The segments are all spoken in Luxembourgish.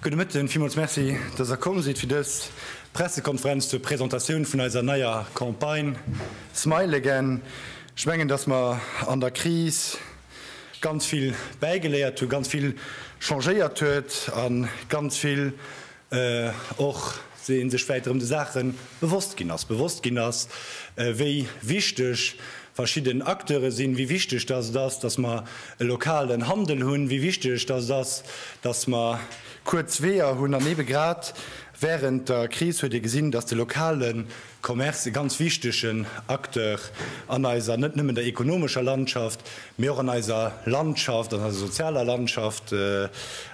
Gudde Mëtten, villmools Merci, dass der komm sidd fir dës Pressekonferenz zur Presentatioun vun eiser neier Campagne smileagain. Ech mengen, dass mer an der Kris ganz vill bäigeléiert hunn, ganz vill changéiert huet a ganz vill och se ee sech vläit erëm de Saache bewosst ginn ass, bewosst ginn ass, wéi wichteg verschidden Acteure sinn, wéi wichteg dass et ass, dass mer e lokalen Handel hunn, wéi wichteg dass et ass, dass mer kuerz Weeër hunn. An ebe grad wärend der Kris huet ee gesinn, dass de lokale Commerce e ganz wichtegen Acteur an eiser net nëmmen der ekonomescher Landschaft, mee och an eiser Landschaft, an eiser sozialer Landschaft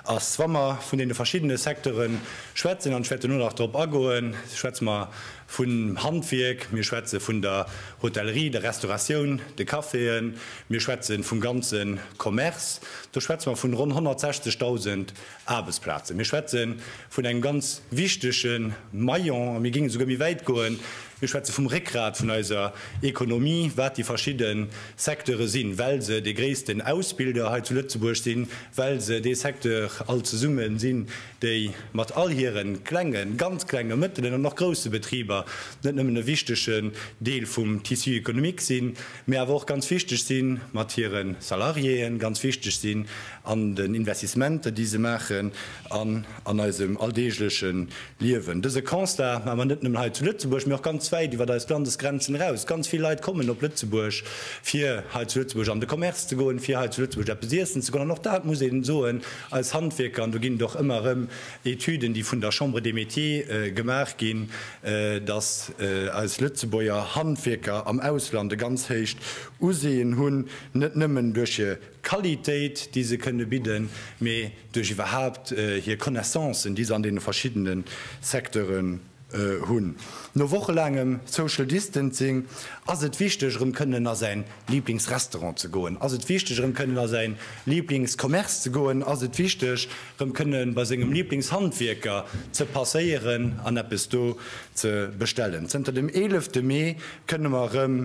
ass. Wa mer vun deene verschiddene Secteure schwätzen, an ech wäert duerno nach drop agoen, schwätze mer vum Handwierk, mir schwätze vun der Hotellerie, der Restauratioun, de Caféen, mir schwätze vum ganze Commerce, do schwätze mer vun ronn 160.000 Aarbechtsplazen. Mir schwätze vun engem ganz wichtege Maillon, a mir géingen esouguer méi wäit goen, mir schwätze vum Réckgrat vun eiser Ekonomie, wat déi verschidde Secteure sinn, well se dee gréissten Ausbilder hei zu Lëtzebuerg sinn, well se dee Secteur all zesumme sinn, déi mat all hire klenge, ganz klenge, mëttelen an och grousse Betriber net nëmmen e wichtege Deel vum Tissu économique sinn, mee awer och ganz wichteg si mat hire Salariéen, ganz wichteg sinn an den Investissementer, déi se maachen an an eisem alldeegleche Liewen. Dëse Constat maache mer net nëmmen hei zu Lëtzebuerg, mee och ganz wäit iwwert eis Landesgrenzen eraus. Ganz vill Leit kommen op Lëtzebuerg, fir hei zu Lëtzebuerg an de Commerce ze goen, fir hei zu Lëtzebuerg eppes iessen ze goen. An och dat muss ee soen, eis Handwierker, an do ginn et och ëmmer erëm Etüden, déi vun der Chambre des Métiers gemaach ginn, dass eis Lëtzebuerger Handwierker am Ausland e ganz héicht Useeën hunn, net nëmmen duerch hir Qualitéit, déi se kënne bidden, mee duerch iwwerhaapt hir Connaissancen, déi se an deene verschiddene Secteuren hunn. No wochelaangem Social Distancing ass et wichteg, erëm kënnen a säin Liblingsrestaurant ze goen? Ass et wichteg erëm kënnen a säin Liblingscommerce ze goen? Ass et wichteg erëm kënnen bei sengem Liblingshandwierker ze passéieren an eppes do ze bestellen? Zënter dem 11 de Mee kënne mer erëm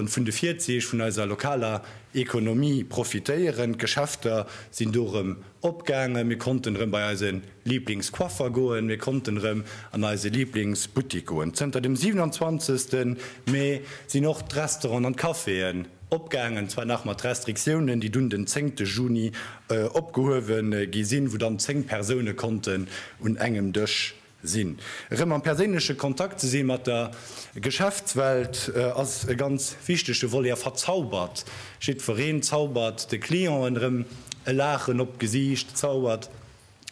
vun de Virzeech vun eiser lokaler Ekonomie profitéieren. D'Geschäfter sinn do erëm Opgaangen, mir konnten erëm bei eise Liblingscoiffer goen, mir konnten erëm an eise Liblingsbuttik goen. Zënter dem 27. Mee sinn och d'Restauranten an d'Caféen opgaangen, zwar nach mat Restriktiounen, déi dunn den 10. Juni opgehuewe gi sinn, wou dann 10 Persoune konnten un engem Dësch Sinn erëm am perséinleche Kontakt ze si mat der Geschäftswelt ass e ganz wichtege Volet a verzaubert jiddwereen, zaubert de Clienten erëm e Laachen op d'Gesiicht, zaubert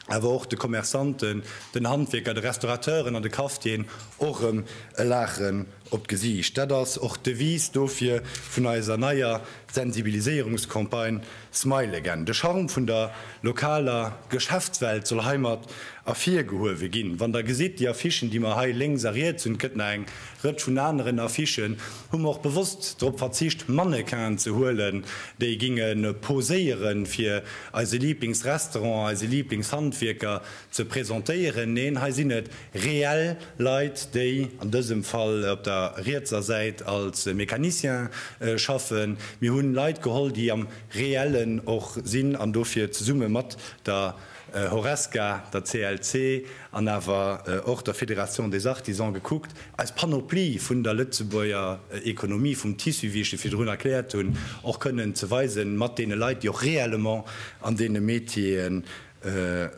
awer och de Commerçanten, den Handwierker, de Restaurateuren an de Cafetieren och erëm e Laachen op d'Gesiicht. Dat ass och d'Devise dofir vun eiser neier Sensibiliséierungscampagne smile again De Charme vun der lokaler Geschäftswelt soll heimat ervirgehuewe ginn. Wann der gesitt, déi Affichen, déi mer hei lénks a riets hunn, et gëtt nach eng Rëtsch vun aneren Affichen, hu mer och bewosst drop verzicht, Mannequinen ze huelen, déi ginge poséieren, fir eise Liiblingsrestaurant, eise Liiblingshandwierker Ze presentéieren. Neen, hei sinn et reell Leit, déi an dësem Fall op der rietser Säit als Mécaniciens schaffen. Mir hunn Leit geholl, déi am Reellen och sinn an dofir zesumme mat der Horesca, der CLC an awer och der Fédération des Artisans gekuckt, eis Panoplie vun der Lëtzebuerger Économie, vum Tissu, wéi ech e virdrun erkläert hunn, och kënnen ze weisen mat deene Leit, déi och réellement an deene Métier'en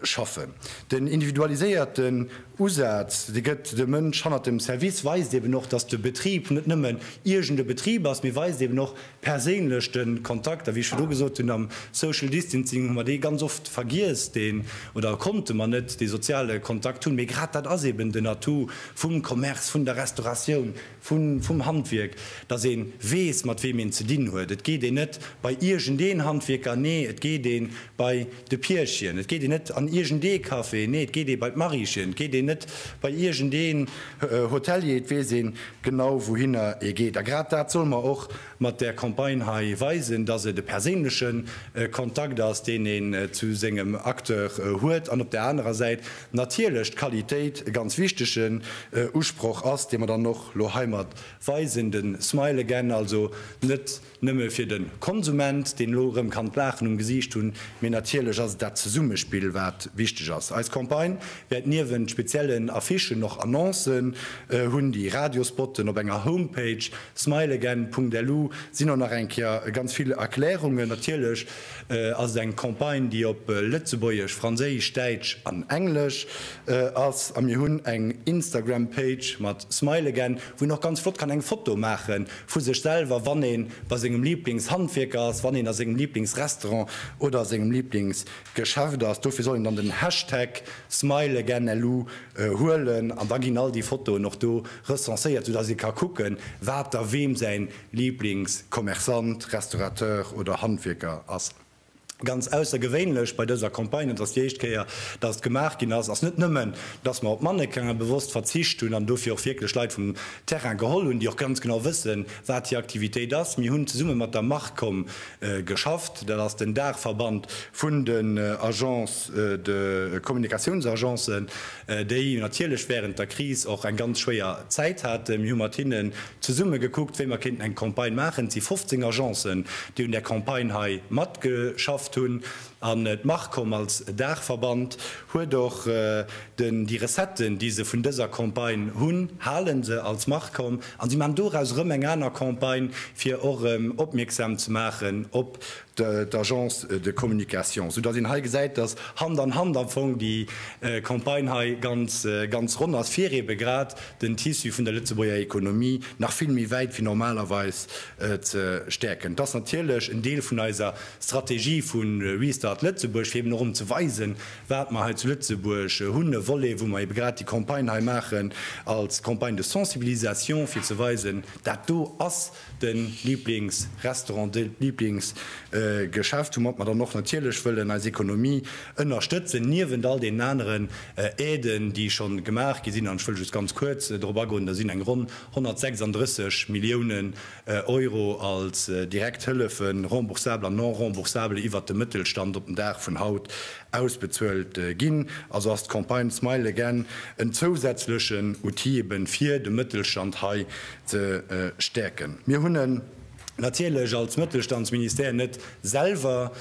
schaffen. Den individualiséierten Usaz, dee gëtt de Mënsch hannert dem Service, weist eben och, dass de Betrib net nëmmen iergend e Betrib ass, mee weist eben och perséinlech de Kontakt. A wéi ech virdu gesot hunn, am Social Distancing hu mer dee ganz oft vergiess, deen, oder konnte mer net dee soziale Kontakt hunn. Mee grad dat ass eben den Atout vum Commerce, vun der Restauratioun, vum Handwierk, dass ee weess, mat weem een ze dinn huet. Et geet een net bei iergendeen Handwierker, nee, et geet ee bei de Pierchen. Et geet een net an iergendee Café, nee, et geet ee bei d'Mariechen. Et geet een net bei iergendeen Hotelier, et weess ee genau, wouhinner ee geet. A grad dat solle mer och mat där Campagne hei weisen, dass et e perséinleche Kontakt ass, deen een zu sengem Acteur huet, an op där anerer Säit, natierlech d'Qualitéit e ganz wichtegen Usproch ass, dee mer dann och elo heimat weisen, de smile again, also net nëmme fir de Konsument, deen elo erëm kann d'Laachen um Gesiicht hunn, mee natierlech ass et dat Zesummespill, wat wichteg ass. Eis Campagne wäert niewent speziellen Affichen och Annoncen hunn, déi Radiospotten. Op enger Homepage, smileagain.lu, sinn och nach eng Kéier ganz vill Erklärungen, natierlech ass et eng Campagne, déi op Lëtzebuergesch, Franséisch, Däitsch an Englesch ass. A mir hunn eng Instagram Page mat Smileagain, wou een och ganz flott kann eng Foto maache vu sech selwer, wann ee bei sengem Liblingshandwierker ass, wann een a sengem Liblingsrestaurant oder a sengem Liblingsgeschäft ass. Dofir soll een dann den Hashtag Smileagainlou huelen an da ginn all déi Fotoen och do recenséiert, soudass ee ka kucken, wat da weem säin Lieblingscommerçant, Restaurateur oder Handwierker ass. Ganz aussergewéinlech bei dëser Campagne, et ass déi éischt Kéier, dass et gemaach ginn ass, ass net nëmmen, dass mer op Mannequin'e bewosst verzicht hunn an dofir och wierklech Leit vum Terrain geholl hunn, déi och ganz genau wëssen, wat hir Aktivitéit ass. Mir hunn zesumme mat der Marcom geschafft, dat ass den Daachverband vun den Agences de Communicatiounsagencen, déi natierlech wärend der Kris och eng ganz schwéier Zäit haten. Mir hu mat hinnen zesumme gekuckt, wéi mer kéinten eng Campagne maachen. Et si 15 Agencen, déi un där Campagne hei matgeschafft hunn. An d'Marcom als Daachverband huet och déi Recetten, déi se vun dëser Campagne hunn, hale se als Marcom an si maachen doraus erëm eng aner Campagne, fir och erëm opmierksam ze maachen op d'Agence de communication, sou dass een hei gesäit, dass Hand an Hand am Fong déi Campagne hei ganz, ganz ronn ass, fir eebe grad den Tissu vun der Lëtzebuerger Ekonomie nach vill méi wäit wéi normalerweis ze stäerken. Et ass natierlech en Deel vun eiser Strategie vu Restart Lëtzebuerg, fir eeben och erëm ze weisen, wat mer hei zu Lëtzebuerg hunn, e Volet, wou mer eebe grad déi Campagne hei maachen als Campagne de sensibilisation, fir ze weisen, dat do ass. den Lieblingsrestaurant, de Lieblingsgeschäft, woumat mer dann och natierlech wëllen eis Economie ënnerstëtzen, niewent all deenen aneren Aiden, déi schonn gemaach gi sinn. An ech wëll just ganz kuerz drop agoen, Da sinn eng ronn 136 Milliounen Euro als direkt Hëllefe, remboursabel an non remboursabel, iwwert de Mëttelstand op den Dag vun haut ausbezuelt ginn. Also ass d'Campagne smile again en zousätzlechen Outil, ebe fir de Mëttelstand hei ze stäerken. Mir hunn en natierlech als Mëttelstandsministère net selwer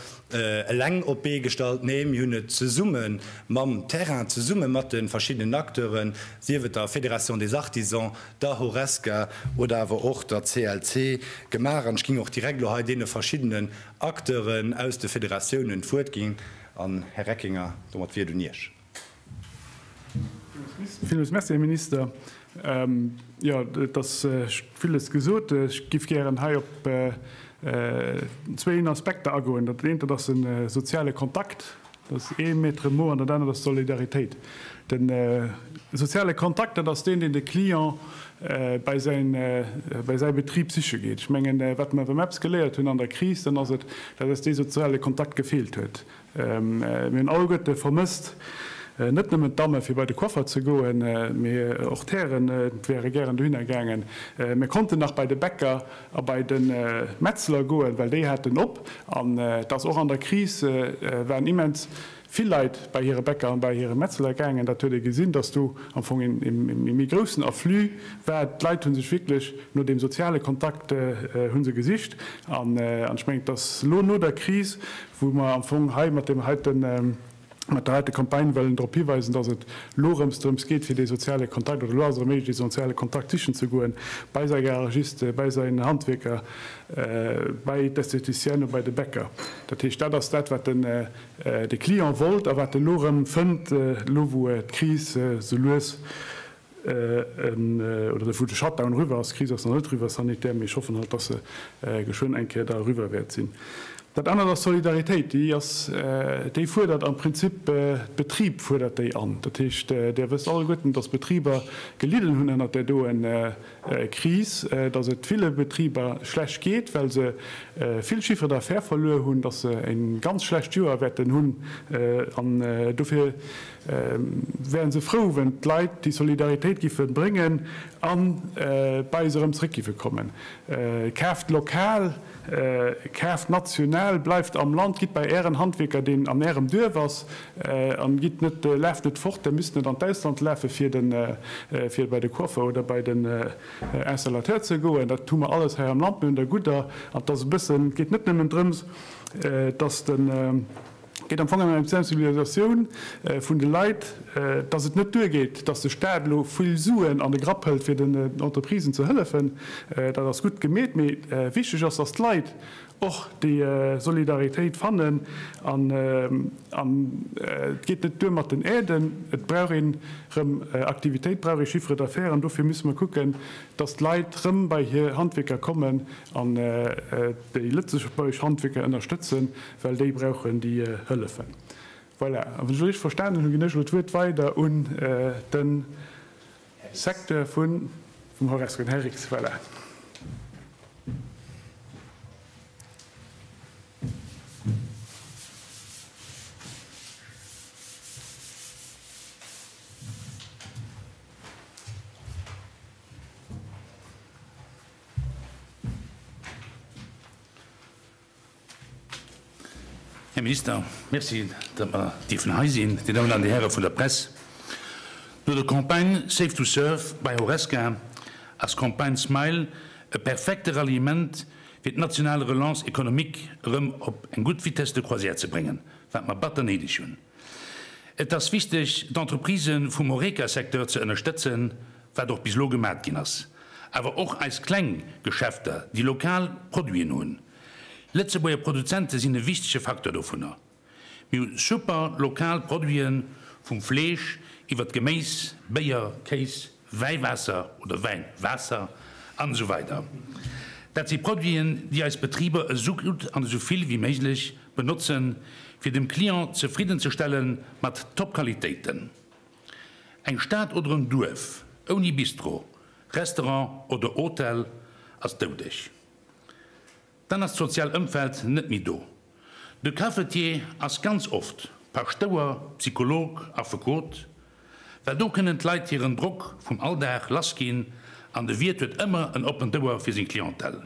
eleng op d'Bee gestallt, nee, mir hunn et zesumme mam Terrain, zesumme mat de verschiddenen Acteuren, sief et der Fédération des Artisans, der Horesca oder awer och der CLC gemaach. An ech géing och direkt elo hei deene verschiddenen Acteuren aus de Fédératiounen d'Wuert ginn. An, Här Reckinger, domat wier et un Iech. Villmools Merci, Här Minister. Jo, et ass villes gesot. Ech géif gären hei op zwéin Aspekter agoen. Dat eent, dat ass de soziale Kontakt, dat ass ee Maître mot, an dat anert ass d'Solidaritéit. De soziale Kontakt, dat ass deen, deen de Client bei säi Betrib siche geet. Ech mengen, wat mer WMEPS geléiert hunn an der Kris, dann ass et, dat ass dee soziale Kontakt gefeelt huet. Mir hunn all Goethe vermësst. Net nëmmen d'Damme fir bei de Coiffer ze goen, mee och d'Hären wäre gären dohinner gaangen. Mir konnten nach bei de Bäcker a bei de Metzler goen, well déi haten op. An et ass och an der Kris, waren immens vill Leit bei hire Bäcker an bei hire Metzler gaangen. Dat huet ee gesinn, datt do am Fong ee méi groussen Afflux war. D'Leit hu sech wierklech no deem soziale Kontakt hu se gesicht. An ech mengen, et ass elo no der Kris, wou mer am Fong hei mat deem heiten, mat der heite Campagne wëllen drop hiweisen, dass et elo erëms drëms geet, fir dee soziale Kontakt, oder elo ass et erëm méiglech, dee soziale Kontakt sichen ze goen, bei säi Garagiste, bei säi Handwierker, bei d'Estheticienne, bei de Bäcker. Dat heescht, dat ass dat, wat de Client wollt a wat e elo erëm fënnt, elo wou d'Kris esou lues oder wou de Shutdown eriwwer ass, d'Kris ass nach net eriwwer sanitär, mee ech hoffen halt, dass se geschwënn eng Kéier da eriwwer wäert sinn. Dat anert ass d'Solidaritéit, déi ass, déi fuerdert am Prinzip, d'Betrib fuerdert déi an. Dat heescht, Där wësst alleguerten, dass Betriber gelidden hunn ënnert där doe Kris, dass et ville Betriber schlecht geet, well se vill Chiffre d'affaires verluer hunn, dass se e ganz schlecht Joer wäerten hunn an dofir, wären se frou wenn d'Leit déi Solidaritéit giffe bréngen an bei se erëm zréck giffe kommen. Kaaft lokal, kaaft national, bleift am Land, gitt bei ären Handwierker deen an ärem Duerf ass an gitt net, laaft net fort, der misst net an d'Ausland lafe fir den fir bei de Coiffeur oder bei den Installateur ze goen. Dat hu mer alles hei am Land, mir hunn der gudder an et ass e bëssen, et geet net nëmmen drëms dass den. Et geet am Fong ëm eng Sensibilisatioun vun de Leit, dass et net duergeet, dass de Staat elo vill Suen an de Grapp hëlt, fir den Entreprisen ze hëllefen. Dat ass gutt gemeet, mee wichteg ass, dass d'Leit och déi Solidaritéit fannen. An et geet net duer mat den Aiden. Et brauch ee rëm Aktivitéit, brauch ee Chiffre d'affaires. An dofir musse mer kucken, dass d'Leit rëm bei hir Handwierker kommen an déi lëtzebuergesch Handwierker ënnerstëtzen, Well déi brauchen déi Hëllefen. Voilà, a wann ech elo richteg verstanen hunn, ginn ech elo d'Wuert weider un de Secteur vum Horesco, den Här Rix. Voilà. Här Minister, merci, datt mer dierfen hei sinn. Dir Dammen an Dir Häre vun der Press, no der Campagne Safe to Surf bei Horesca ass d'Campagne smile e perfekte Ralliement, fir d'national Relance économique erëm op eng gutt Vitesse de croisière ze bréngen, wat mer batter néideg hunn. Et ass wichteg, d'Entreprisë vum Horeca-Secteur ze ënnerstëtzen, wat och bis elo gemat ginn ass, awer och eis kleng Geschäfter, déi lokal Produiten hunn. Lëtzebuerger Produzente sinn e wichtege Facteur dovunner. Mir hu super lokal Produiten, vum Fleesch iwwert d'Geméis, Béier, Kéis, Wäiwaasser oder Wäin, Waasser an esou weider Dat si Produiten, déi eis Betriber esou gutt an esou vill wéi méiglech benotzen, fir dem Client zefridden ze stellen mat Top-Qualitéiten. Eng Stad oder en Duerf ouni Bistro, Restaurant oder Hotel ass doudeg. Dann ass d'sozial Ëmfeld net méi do. De Cafetier ass ganz oft Paschtouer, Psycholog, Affekot, well do kënnen d'Leit hiren Drock vum Alldag lass ginn an de Wiert huet ëmmer en oppent Ouer fir seng Clientèle.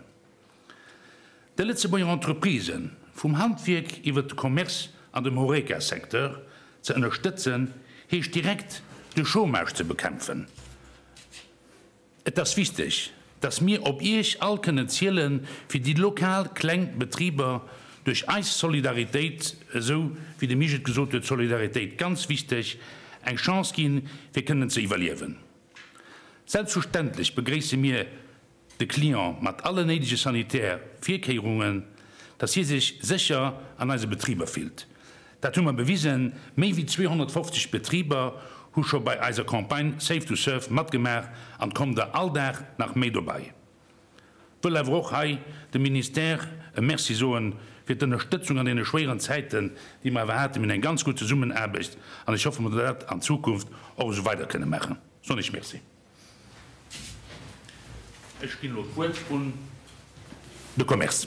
Déi Lëtzebuerger Entreprisen, vum Handwierk iwwert de Commerce an dem Horeca-Secteur, ze ënnerstëtzen, heescht direkt de Chômage ze bekämpfen. Et ass wichteg, dass mir op Iech all kënnen zielen, fir déi lokal kleng Betriber duerch eis Solidaritéit, esou wéi de Misch et gesot huet, Solidaritéit, ganz wichteg, eng Chance ginn, fir kënnen ze iwwerliewen. Selbstverständlech begréisse mir de Client mat alle néidege sanitär Virkéierungen, dass hie sech sécher an eise Betriber fillt. Dat hu mer bewisen. Méi wéi 250 Betriber hu scho bei eiser Campagne Save to Serve matgemaach an et kommen der all Dag nach méi dobei. Wëll awer och hei dem Ministère e Merci soe fir d'Ënnerstëtzung an deene schwéieren Zäiten, déi mer awer haten. Mir hunn eng ganz gutt Zesummenaarbecht an ech hoffe mer, datt mer dat an Zukunft och esou weider kënne maachen. Soen ech Merci. Ech ginn elo d'Wuert un de Commerce.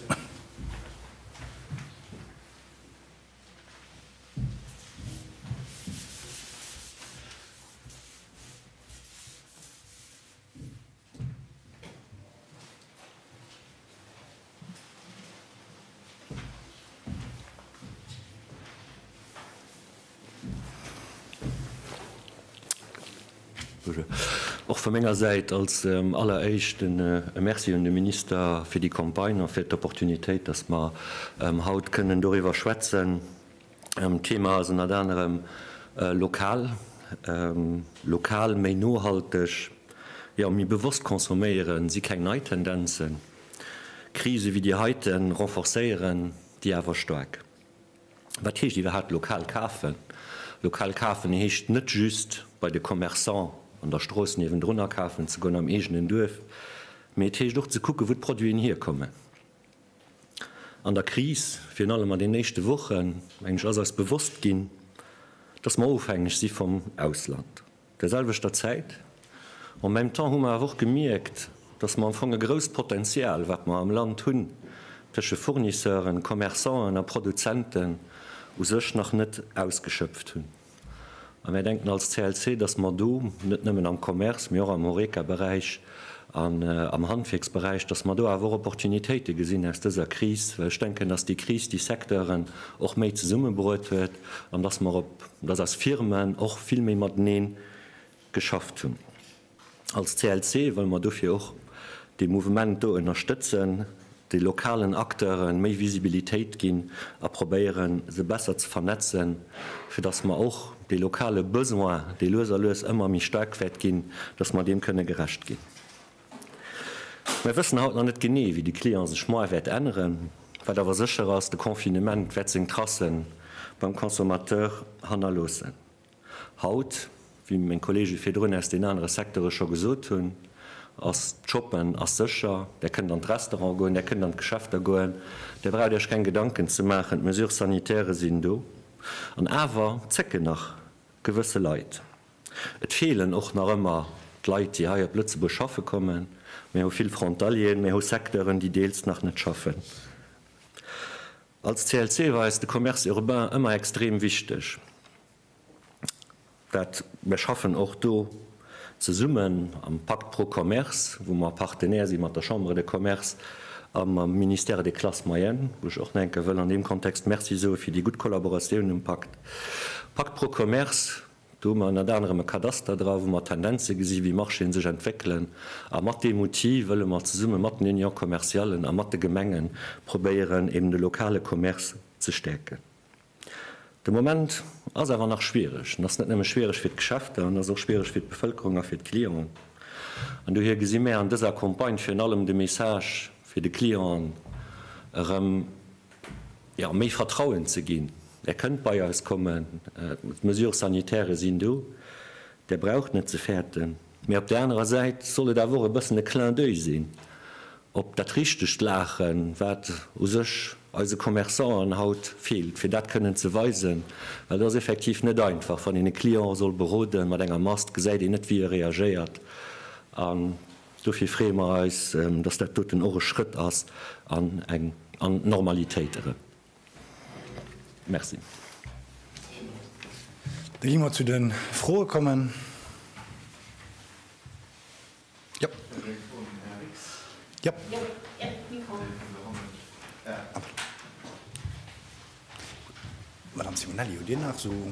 Och vu menger Säit als alleréischt e Merci un de Minister fir déi Campagne a fir d'Opportunitéit, dass mer haut kënnen doriwwer schwätzen. D'Thema ass ënnert anerem lokal, lokal, méi nohalteg, jo, méi bewosst consomméieren, si keng nei Tendenzen. Krise wéi déi heite renforcéieren déi awer staark. Wat heescht iwwerhaapt lokal kafen? Lokal kafen heescht net just bei de Commerçant an der Strooss niewendrun akafen ze goen, am eegenen Duerf, mee et heescht och ze kucken, wou d'Produiten hierkommen. An der Kris, virun allem an den éischte Wochen, meng ech, ass eis bewosst ginn, dass mer ofhängeg si vum Ausland. der selwechter Zäit. En même temps hu mer awer och gemierkt, dass mer am Fong e grousst Potenzial, wat mer am Land hunn, tësche Fournisseuren, Commerçanten a Produzenten u sech nach net ausgeschöpft hunn. A mär denken als CLC, dass mer do net nëmmen am Commerce, mee och am Horeca-Beräich an am Handwierksberäich, dass mer do awer och Opportunitéite gesinn aus dëser Kris, well ech denken, dass déi Kris déi Secteuren och méi zesummebruet huet an dass mer op, dass eis Firmen och vill méi mateneen geschafft hunn. Als CLC wëlle mer dofir och dee Mouvement do ënnerstëtzen. de lokalen Acteure méi Visibilitéit ginn a probéieren, se besser ze vernetzen, fir dass mer och dee lokale Besoin, dee lues a lues ëmmer méi staark wäert ginn, dass mer deem kënne gerecht ginn. Mer wëssen haut nach net genee, wéi de Client sech moar wäert änneren. Wat awer sécher ass, de Confinement wäert seng Tracen beim Consommateur hannerloossen. Haut, wéi meng Kollege virdrun aus den anere Secteure scho gesot hunn, ass d'Shoppen ass sécher. Där kënnt an d'Restaurante goen, Där kënnt an d'Geschäfter goen. Där braucht Iech keng Gedanken ze maachen, d'Mesures sanitaires sinn do. An awer zécken nach gewësse Leit. Et feelen och nach ëmmer d'Leit, déi hei op Lëtzebuerg schaffe kommen. Mir hu vill Frontalieren, mir hu Secteuren, déi deels nach net schaffen. Als CLC war eis de Commerce urbain ëmmer extrem wichteg. Dat mir schaffen och do zesummen am Pacte pro Commerce, wou mer Partenaire si mat der Chambre de Commerce a mam Ministère des Classes moyennes, wou ech och nach eng Kéier wëll an deem Kontext Merci soe fir déi gutt Kollaboratioun um Pacte. Pacte pro Commerce. Do hu mer ënnert anerem e Kadaster dra wou mer Tendenze gesi wéi Marchéen sech entwéckelen a mat deem Outil wëlle mer zesumme mat den Union commerciallen a mat de Gemenge probéieren eben de lokale Commerce ze stäerken. De Moment ass awer nach schwiereg. En ass net nëmme schwiereg fir d'Geschäfter, en ass och schwiereg fir d'Bevëlkerung a fir d'Clienten an dohier gesi mär an dëser Campagne virun allem de Message fir de Client erëm, jo, méi Vertrauen ze ginn, Där kënnt bei eis kommen, d'Mesures sanitaires sinn do, Där braucht net ze fäerten. Mee op där anerer Säit soll et awer och e bëssen e Clin d'oeil sinn op dat richtegt Laachen, wat u sech eise Commerçanten haut feelt, fir dat kënnen ze weisen, well et ass effektiv net einfach, wann een e Client soll beroden mat enger Mask, gesäit een net, wéi e reagéiert. Dofir freeë mer eis, dass dat doten och e Schrëtt ass an eng an d'Normalitéit erëm. Merci. Da gi mer zu de Froe kommen. Madame Simonelli, hutt Dir nach esou?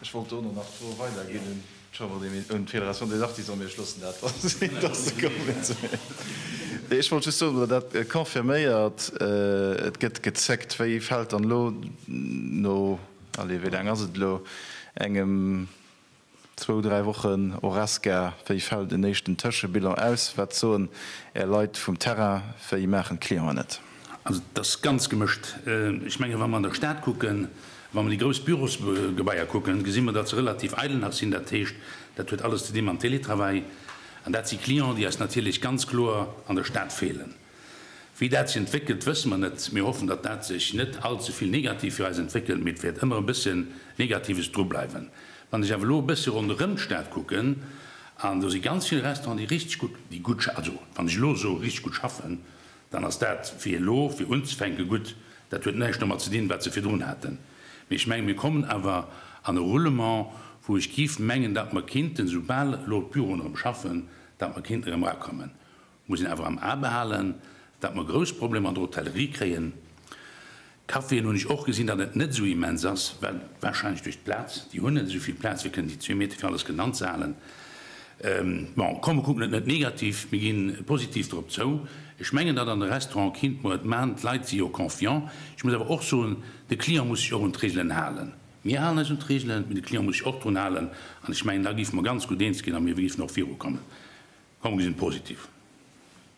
Ech wollt dono nach d'Fro weider ginn un d'Chambre des Métiers, un d'Fédération des Artisans, mee ech loossen dat dann sinn, dass se kommen. Nee, ech wollt just soen, oder dat confirméiert, et gëtt gezéckt, wéi fält dann elo no, allez, wéi laang ass et elo, engem, zwou, dräi Wochen Horesca, wéi fält en éischten Tëschebilan aus? Wat soen Är Leit vum Terrain? Wéi maachen d'Clienten et? Also et ass ganz gemëscht. Ech menge wa mer an der Stad kucken, wa mer déi grouss Bürosgebaier kucken, gesi mer, datt se relativ eidel nach sinn. Dat heescht, dat huet alles ze di mam Télétravail. An dat si Clienten, déi eis natierlech ganz kloer an der Stad feelen. Wéi dat sech entwéckelt, wësse mer net. Mir hoffen, datt dat sech net all ze vill negativ fir eis entwéckelt, mee et wäert ëmmer e bësse Negatives dru bleiwen. Wann ech awer elo e bësse ronderëm d'Stad kucken, an do si ganz vill Restauranten, déi richteg gutt, déi gutt, also wann ech elo soe richteg gutt schaffen, dann ass dat fir elo, fir unzefänke gutt. Dat huet näischt domat ze dinn, wat se virdrun haten, mee ech mengen, mir kommen awer an e Roulement, wou ech géif mengen, datt mer kinnten, soubal elo d'Büroen erëm schaffen, datt mer kinnten erëm erakommen. Muss een awer am A behalen, datt mer grouss Problemer an der Hotellerie kréien. Caféen hunn ech och gesinn, datt et net esou immens ass, well warscheinlech duerch d'Plaz, déi hunn net esou vill Plaz, fir kënnen déi zwee Meter fir alles kënnen anzehalen. Bon, komm, mer kucken et net negativ, mir gi positiv drop zou. Ech mengen, datt an de Restauranten kint mer et man, d'Leit si jo confiant. Ech muss awer och soen, de Client muss sech och un d'Reegelen halen. Mir halen eis un d'Reegelen, mee de Client muss sech och drun halen an ech mengen, da géife mer ganz gutt eens ginn a mir géifen och virukommen. Komm, mer gesinn et positiv.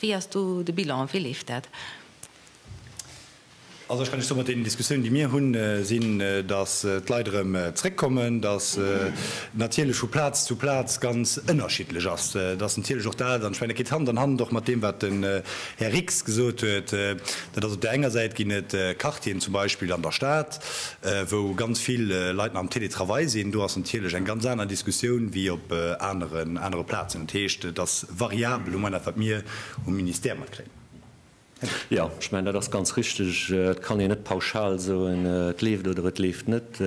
Wéi ass do de Bilan? Wéi leeft dat? Also ech kann Iech soen, mat deenen Diskussiounen, déi mir hunn, sinn, datt d'Leit erëm zréckkommen, datt natierlech vu Plaz zu Plaz ganz ënnerschiddlech ass, datt natierlech och dat, an ech mengen, dat geet Hand an Hand och mat deem, wat den Här Rix gesot huet, dat ass op där enger Säit ginn et Quartieren zum Beispill an der Stad, wou ganz vill Leit nach am Télétravail sinn, do ass natierlech eng ganz aner Diskussioun wéi op anere Plazen. Dat heescht, et ass. variabel, hu mer nach, wat mir um Ministère matkréien. Jo, ech mengen, dat ass ganz richtig. Et kann een net pauschal soen, et leeft oder et leeft net.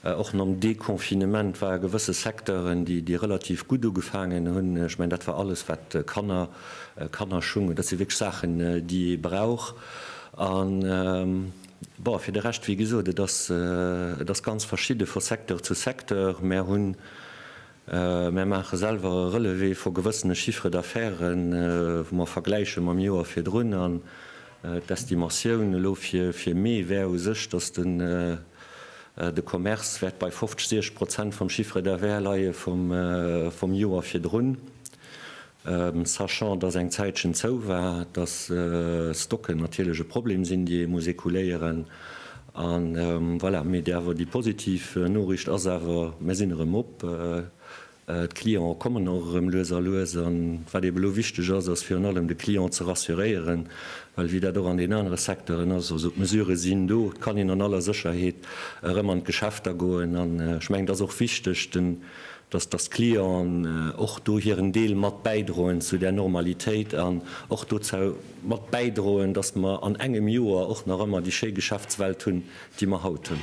Och nom Deconfinement war e gewësse Secteuren, déi relativ gutt ugefaangen hunn. Ech mengen, dat war alles, wat Kanner, Kannerschung, hunn. Dat si wierklech Saachen, déi ee brauch. A bon, fir de Rescht, wéi gesot, et ass, et ass ganz verschidde vu Secteur zu Secteur. Mer hunn Mär maache selwer e Relevé vu gewëssene Chiffre d'affaires, wou mer vergläiche mam Joer virdrun. An d'Estimatioun elo fir Mee wär u sech, dass de Commerce wäert bei 50, 60 Prozent vum Chiffre d'affaires leie vum Joer virdrun. sachant dass eng Zäitchen zou war, dass Stocken natierlech e Problem sinn, déi ee muss écouléieren an voilà. Mee déi awer déi positiv Noriicht ass awer, Mir sinn erëm op, d'Clientë kommen och erëm lues a lues. An wat eeben elo wichteg ass, ass virun allem de Client ze rassuréieren, well wéi dat och an deenen anere Secteuren ass, also d'Mesurë sinn do, et kann een an aller Sécherheet erëm an d'Geschäfter goen. An ech mengen et ass och wichteg, den dass dass d'Clienten och do hiren Deel mat bäidroen zu där Normalitéit an och dozou mat bäidroen, dass mer an engem Joer och nach ëmmer déi schéi Geschäftswelt hunn, déi mer haut hunn.